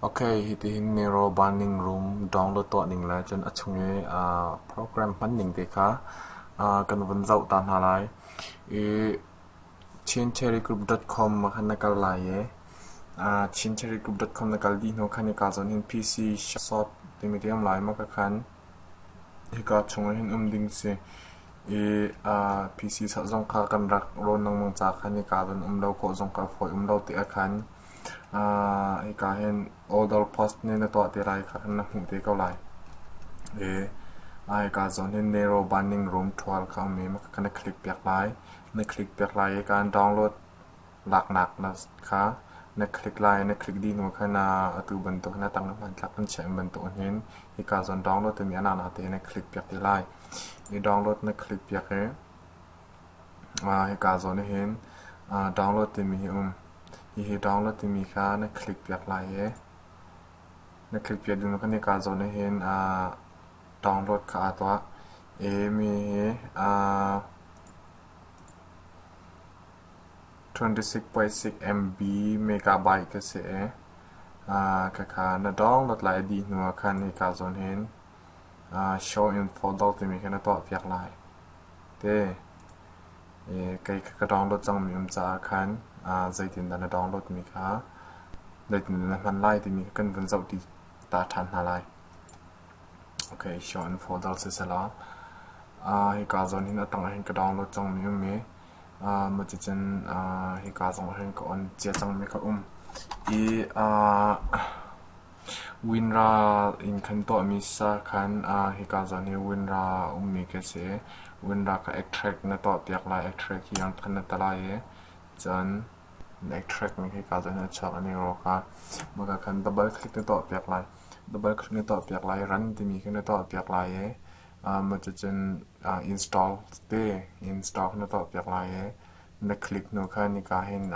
Ok, hitihin miro banning room download tuah ning le cun a chung i program hman ning te kha kan vun zoh ta hna lai. I chincherrygroup.com ah khan na kal lai i chincherrygroup.com na kal dih hnu khan hika zawn hin PC Shop timi ti a um lai maw ka khan. Hika chung ah hin um ding si. I PC sak zong kha kan rak rawn lengmang ca khan hika zawn um lo khawh zong kha a fawi um lo ti a khan. Hika hin Odor Post nih na tuah ti lai kha na hmuh te ko lai. Hika zawn hin Narrow Binding Room ṭhual kha um i ka na click piak lai. Na click piak lai i kaan download laknak kha na click lai. Na click dih hnu khan atu bantuk na tang hmanthlak an chiah bantuk hin hika zawn download timi a nana te na click piak ti lai. I download na click piak i Hika zawn ah hin download timi hi a um. Hihi download timi kha na click piak lai i na click piak ding khan hika zawn ah hin download kha aa tuah i mi hi twenty-six point six MB megabyte ka si i khakha na download lai a dih hnu ah khan hika zawn hin show in photo timi kha na tuah piak lai. te. Kei ka download cangmi um caah khan zeitindah na downloadmi kha zeitindah na hman lai timi kha kan vun zoh ta ṭhan hna lai. Okay, show and folder siselaw. Hika zawn hin a tang hin ka download cangmi um i, macicun hika zong hin ka on cia cangmi ka um. I Winral in kan tuahmi sakhan ah hika zan hi winral a ummi ka si i winral ka extract na tuah piak lai. Extract hi angthan na ta lai i cun na extract ning hika zan hin a chuak an i rawk a. Maka khan double click na tuah piak lai. Double click na tuah piak lai i run timi khi na tuah piak lai i macucun install te install na tuah piak lai i na click hnu khan hika hin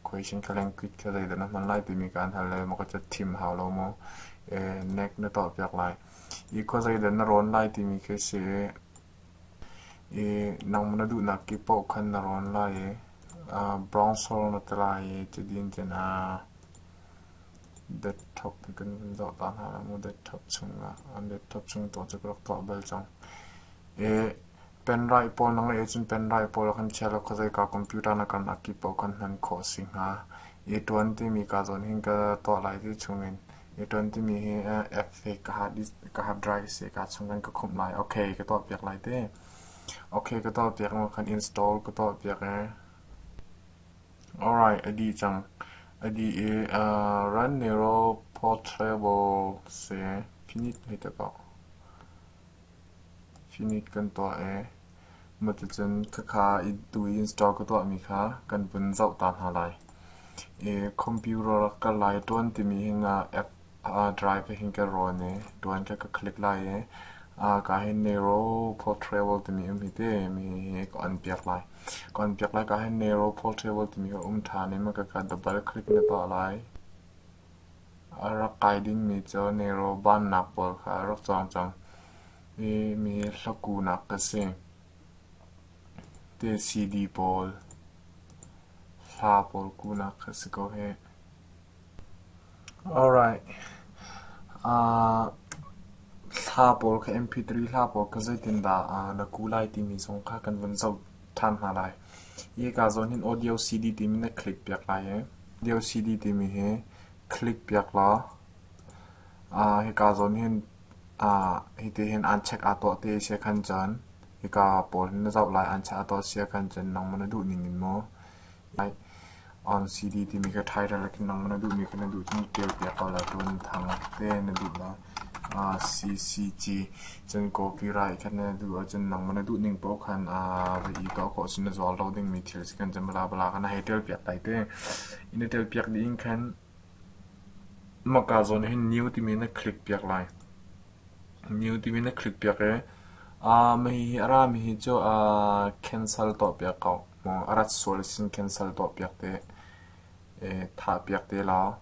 Khuaisen ka lengkit ka zeidah na hman lai timi kaan hal le maw ka cat thim hau lo maw? Nek na tuahpiak lai. I khua zeidah na rawn lai timi khi a si i, i nangmah na duhnak kip paoh khan na rawn lai i, brown sole na ti lai i cutin cun desktop in kan vun zoh ta hna lai mu. Desktop chung ah, desktop chung tu cu ka rak tuah bal cang. I Penraih pawl na ngeih ahcun penraih pawl a kan chiah lo kha zeika computer na kan ak i paoh kan hman khawh a si hnga. A1 timi kaa zawn hin ka tuah lai ti chungin A1 timi hi app hi ka hard disk ka hard drive si kaa chungin ka khumh lai. Okay ka tuah piak lai te. Okay ka tuah piak mo kan install ka tuah piak e. Alright a dih cang. A dih i run narrow portable si finit hei te poh. Finit kan tuah ee, maticun khakha tu i install ka tuahmi kha kan vun zoh ta hna lai. Computer rak kal lai ṭuan timi hin app drive hin kan rawn i ṭuan kha ka click lai i ka hin Nero Portable timi um hi ti mi hi ka on piak lai. Ka on piak lai ka hin Nero Portable timi hi um ṭhan i maka ka double click na tuah lai. A rak kai dingmi cu nelraw bannak pawl kha a rak cawng cang i mi hlakunak ka si. Te-si-di pawl, hla pawl kuhnak a si ko hih. Alright. Uh, hla pawl kha MP3 hla pawl kha zeitindah uh, na kuh lai timi zong kha kan vun zoh. ṭhan hna lai. Hika zawn hin audio CD timi na click piak lai i audio CD timi hi click piak law aa hika zawn hin aa hiti hin aan check aa tuah ti si khan cun hika pawl hin na zoh lai aan check aa tuah si khan cun nangmah na duh ning in maw On City timi kha title a tlung nangmah na duhmi kha na duh cun ṭialpiak ko law cun thang te na duh na aa CCG cun copyright kha na duh ahcun nangmah na duhning paoh khan aa va ih tuah khawh cun na zual ro dingmi thil a si kan cun bla bla kha na hei ṭialpiak dai te. In na ṭialpiak dih in khan mahka zawn hin new timi na click piak lai. New timi na click piak i aa mahihi a rami hi cu aa cancel tuah piak ko. a rat sual sin khin sal tuahpiak te, thahpiak te law.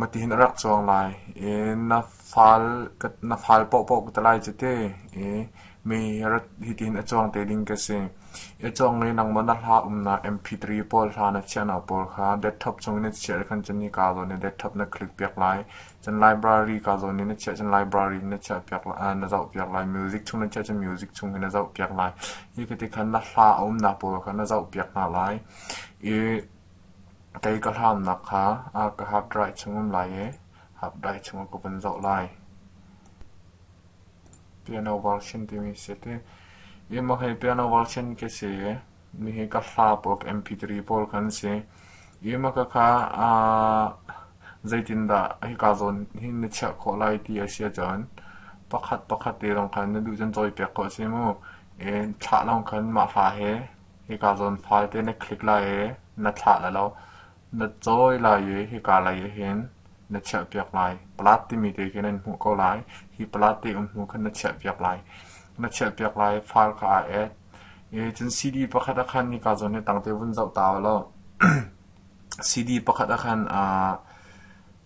Matihin a rak cuang lai. Na fal paohpaoh ka tlai cu te. Mei hitihin a cuang te ding ka si. A cuang le nangmaw na hla umnak MP3 pawl hla na chiahnak pawl kha desktop chungin na chiah khan cun nika zawn i desktop na click piak lai. Cun library ka zawn i na chiah cun library na chiahpiak na zohpiak lai. Music chung na chiah cun music chung hi na zohpiak lai. Hi kiti khan na hla a umnak pawl kha na zohpiak hna lai i kei ka hlaumnak kha ka half dry chung um lai i half dry chungah ka vun zoh lai. Piano version timi si ti. Hi mah hi piano version ke si i Nihin ka hla pawl ka MP3 pawl kan si. Imaka kha zeitindah hika zawn hi na chiah khawh lai ti a si ahcun pakhat pakhat te lawng khan na duh cun cawi pek khawh a si mu. Thlah lawng khan mah hla he hika zawn file te na click lai i na thlah la lo. Na cawi lai i hika lei ah hin na chiahpiak lai. Palat timi te khi nan hmuh ko lai. Hi palat te umhnu khan na chiahpiak lai. Na chiahpiak lai file kha aa et. I cun CD pakhat ah khan hika zawn hi tangte vun zoh ta u law CD pakhat ah khan ah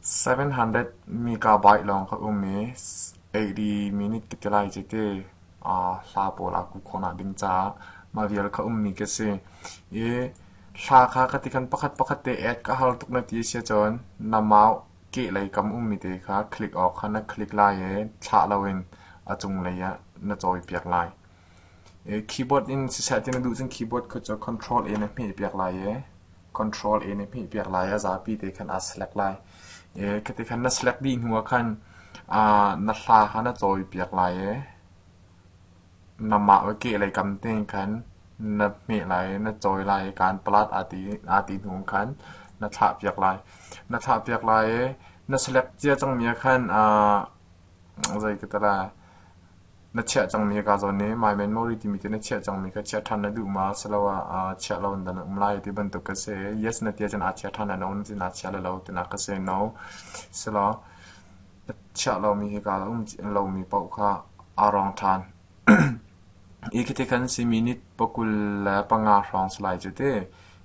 700 megabyte lawng ka um i 80 minute te te lai cete ah hla pawl aa ku khawh nak ding caah mah vial ka ummi khi a si. I Hla kha ka ti khan pakhat pakhat te add ka hal tuk na ti a si ahcun na mau kehlei kam ummi te kha click awk kha na click lai i thlah loin a cunglei ah na cawipiak lai. Keyboard in siseh ti na duh cun keyboard kut cu Control A na hmehpiak lai i Control A na hmehpiak lai i a zapi te khan aa select lai. Khi ti khan na select dih hnu ah khan na hla kha na cawipiak lai i Na mah ka kehlei kam tein khan na hmeh lai i na cawi lai i kaan palat aa ti hnu khan na thlahpiak lai. Na thlahpiak lai i na selek cia cangmi ah khan zei ka ti lai, na chiah cangmi hi kaa zawn i My Man Mori timi te na chiah cangmi kha chiah ṭhan na duh ma asiloah chiah lo in dah na um lai ti bantuk ka si i yes na ti ahcun aa chiah ṭhan lai lo, na sin aa chia lai lo tinak ka si no. Silo. chiah lomi hika lomi paoh kha aa rawng ṭhan. Hi khi tikhan si minit pakul le panga hrawng salai cu ti.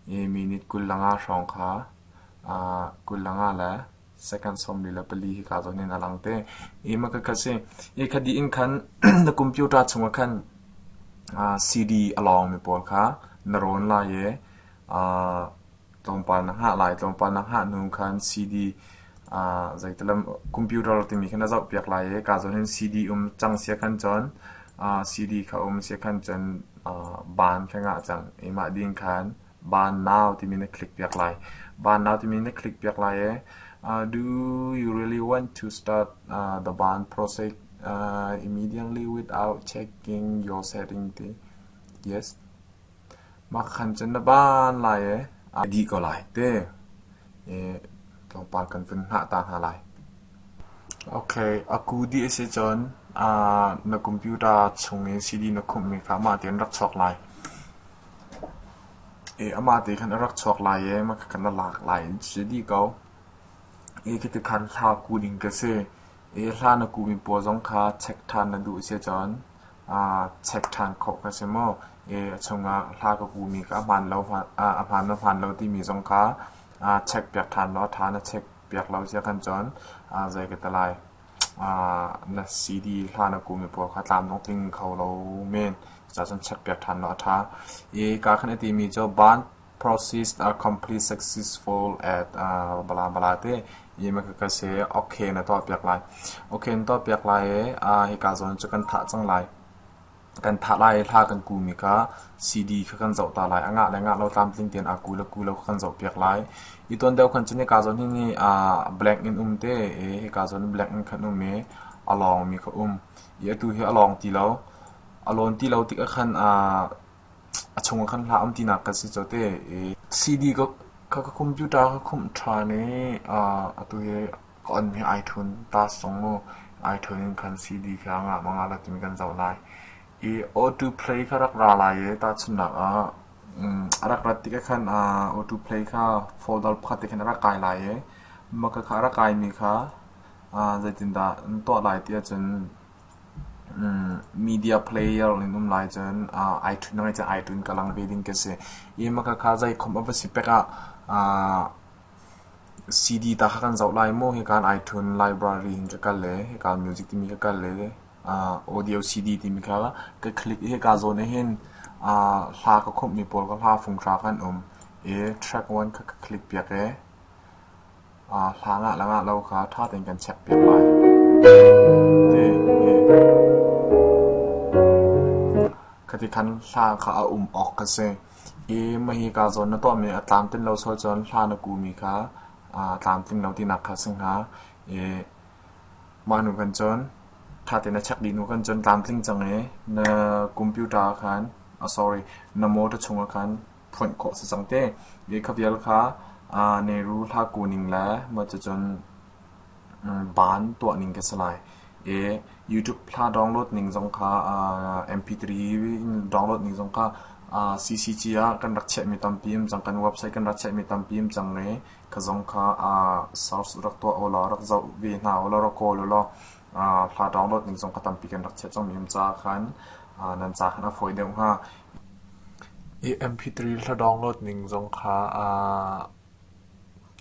Hi minit kul le nga hrawng kha aa kul le nga le second sawmli le pali hika zawn in a lang te. Hi maka kha si. Hi kha dih in khan na computer chungah khan aa CD a lawngmi pawl kha na rawn lai i aa Tlawmpal na hngah lai. Tlawmpal na hngah hnu khan CD ah zeital lam computer timi kha na zohpiak lai i kaa zawn in CD um cang sia khan cun ah CD kha um sia khan cun ah ban kha ngah cang i mah ding khan ban now timi na click piak lai. Ban now timi na click piak lai i ah do you really want to start ah the ban process ah immediately without checking your setting ti. Yes. Mah khan cun na van lai i a dih ko lai ti i tlawmpal kan vun hngah ta hna lai. Okay, a ku dih a si cun aa na computer chung i CD na khumhmi kha amah tein rak chuak lai. I amah te khan a rak chuak lai i mah kha na lak lai in si dih ko. I khiti khan hla ku ding ka si. I hla na kuhmi pawl zong kha check ṭhan na duh a si cun aa check ṭhan khawh ka si maw? a chungah hla ka kuhmi kha a hmaan lo a hmaan maw hmaan lo timi zong kha aa checkpiak ṭhan law a ṭha na checkpiak lo cia khan cun zei ka ti lai na CD hla na kuhmi pawl kha tlamtling tling kho lo men cucacun checkpiak ṭhan law a ṭha i kaa khan a timi cu band Process are completely successful at uh, bla bla te i ma ka ka se okay na to piak lai okay na to piak lai e uh, hi ka zon chu kan tha chang lai kan tha lai hla kan ku mi ka CD kha kan zo ta lai anga le nga lo tlam tling ten a ku la ku lo kan zo piak lai i ton deu khan chini ka zon hi ni uh, blank in um te e hi ka zon blank in khan um e along mi kha um i atu hi along ti lo alon ti lo ti ka khan uh, A chungah khan hla um tinak kan si cu te. CD ka, ka, ka computer ka khumh ṭhan i atu hi ka onmi iTunes tasong mu iTunes in khan CD kha ngah ma ngah lo timi kan zoh lai. I auto play kha rak ra lai i tahchunhnak ah a rak rat tikah khan auto play kha folder pakhat te khan a rak kai lai i maka kha a rak kaimi kha zeitindah na tuah lai tiah cun media player in um lai cun ai ṭhut ngai cun ai ṭhut in ka lang ve ding khi a si. Ih ma khakha zei khawmh a va si pek ah CD ta kha kan zoh lai maw hikan ai ṭhun library in ka kal le hika music timi ka kal le audio CD timi kha ka click i hika zawn ah hin hla ka khawmhmi pawl kha hla fung ṭha kha an um i track one kha ka click piak i Hlan ah le ngah lo kha ṭha tein kan checkpiak lai. Khati khan hla kha a um awk ka si i mahi kaa zawn na tuahmi a tlamtlin lo sual cun hla na kuhmi kha aa tlamtlin lo tinak kha si hnga. I mah hnu khan cun ṭha tein na check dih hnu khan cun tlamtling cang i na computer ah khan, oh sorry, na motor chungah khan tthonh khawh a si cang te. Lehkha vial kha neru hla ku ning le maw cucun baan tuah ning ka si lai. I YouTube hla download ning zong kha MP3 in download ning zong kha CCC ah kan rak chiahmi tampi um cang. Kan website kan rak chiahmi tampi um cang i kha zong kha source rak tuah ulaw, rak zoh ve hna ulaw, rak kawl ulaw hla download ning zong kha tampi kan rak chiah cangmi um caah khan nan ca khan a fawi deuh hnga. I MP3 hla download ning zong kha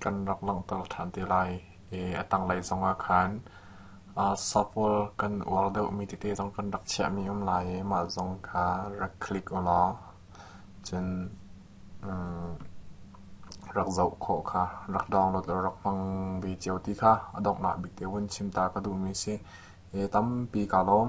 kan rak langhter ṭhan te lai i a tanglei zongah khan software kan uar deuhmi tete zong kan rak chiahmi um lai i mah zong kha rak click u law cun rak zoh khawh kha rak download rak hmang ve cio ti kha a donghnak bik te vun chim ta ka duhmi a si. He tampi kaa lawm.